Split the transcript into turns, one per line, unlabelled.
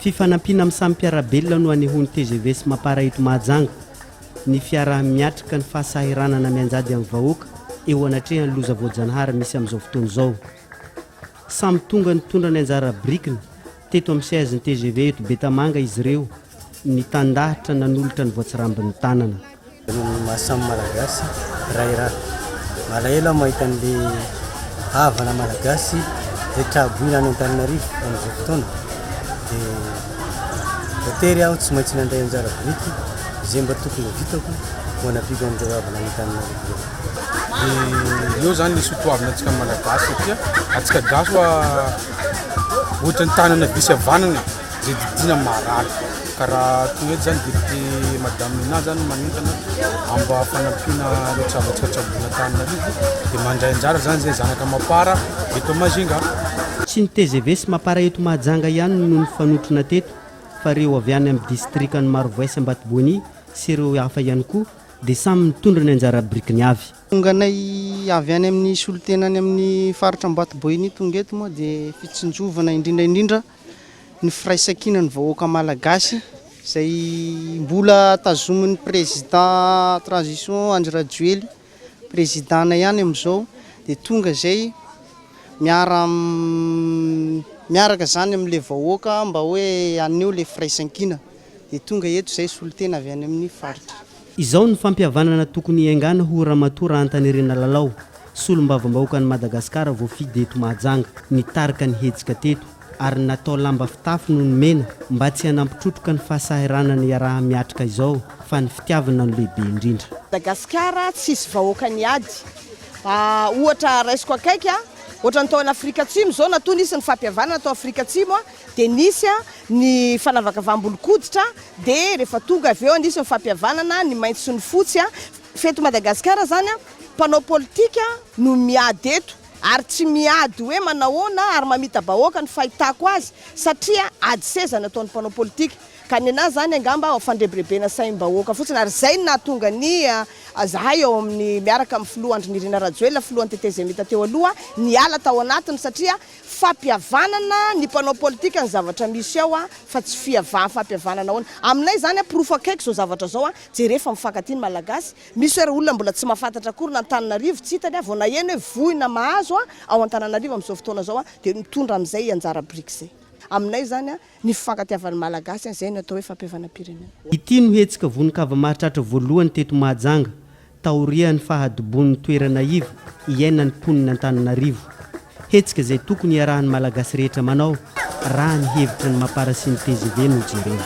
Fifanampiana amin'ny samy mpiara-belona no hanehoan'ny tgv sy Mapar eto Mahajanga ny fiaraha-miatrika ny fahasahiranana mianjady amin'ny vahoaka eo anatrehan'ny loza voajanahary misy amin'izao fotoana izao. Samy tonga nitondra ny anjara birikiny teto amin'ny siège ny tgv eto Betamanga izy ireo nitandahatra nanolotra ny voatsirambin'ny tanana. Ny maha samy
Malagasy ray ra. Malahelo aho mahita an'ilay havana Malagasy izay traboina any Antananarivo amin'izao fotoana. Dia voatery aho tsy maintsy nandray anjara biriky izay mba tokony ho vitako ho hanafiako an'ireo havana any Antananarivo ireo. Dia
eo izany ny soa toavina antsika Malagasy satria antsika gasy ohatran'ny tanana be sy havanana e. Dididiana marary ka raha toy eto zany député madame Nina zany manentana amba fanampiana ny tsavatsy fatsabona Antananarivo dia mandray anjara zany zay zanaka Mapar eto Majinga. Tsy ny tgv
sy Mapar eto Mahajanga ihany no nifanotrona teto fa reo avy any amin'ny distrikan'i Marovoay sy Ambatoboany sy ireo hafa ihany koa dia samy nitondra ny anjara birikiny avy. Tonga anay
avy any amin'ny solontena any amin'ny faritra Ambatoboany tonga eto moa dia fitsinjovana indrindra indrindra ny firaisankinan'ny vahoaka malagasy izay mbola tazomin'ny président transition Andry Rajoely président-na ihany amin'izao dia tonga izay miara miaraka izany amin'ilay vahoaka mba hoe haneho ilay firaisankina dia tonga eto izay solontena avy any amin'ny faritra. Izao ny
fampihavanana tokony hiaingàna ho Ramatoa Rahantanerena Lalao, Solombavambahoakan'i Madagasikara voafidy eto Mahajanga, nitarika ny hetsika teto ary natao lamba fitafy no nomena mba tsy hanampy trotroka ny fahasahiranana iaraha-miatrika izao fa ny fitiavana no lehibe indrindra. Madagasikara
tsisy vahoaka ny ady ah ohatra raisiko akaiky ah ohatra ny tao an Afrika Atsimo zao natoa nisy ny fampihavanana tao Afrika Atsimo ah Dia nisy ny fanavakavaham-bolon-koditra, dia rehefa tonga avy eo nisy ny fampihavanana ny maitso sy ny fotsy. F'eto Madagasikara izany, mpanao politika no miady eto, ary tsy miady hoe manahoana ary mamita-bahoaka ny fahitako azy, satria ady seza no ataon'ny mpanao politika. Ka nenaha izany angamba ho fandrebirebena saim-bahoaka fotsiny, ary izay no nahatonga ny zahay ao amin'ny miaraka amin'ny filoha Andry Nirina Rajoelina, filohan'ny tetezemita teo aloha, niala tao anatiny, satria fampihavanana ny mpanao politika ny zavatra misy ao fa tsy fiava fampihavanana ahoana aminay zany porofo akaiky zao zavatra zao jere fa mifankatia ny malagasy misy ary olona mbola tsy mafantatra akory na antananarivo tsy hitany vao naheno hoe voina mahazo ao antananarivo amizao fotoana zao dia mitondra amizay anjara birika zay aminay zany Ny fifankatiavan'ny Malagasy an, izay no atao hoe fampihavanam-pirenena. Ity no hetsika
vonon-kava mahatratra voalohany teto Mahajanga taorian'ny fahadibon'ny toerana iva iainan'ny mponina Antananarivo. Hetsika izay tokony hiarahan'ny Malagasy rehetra manao raha ny hevitra ny Mampara sy ny tgv no jerena.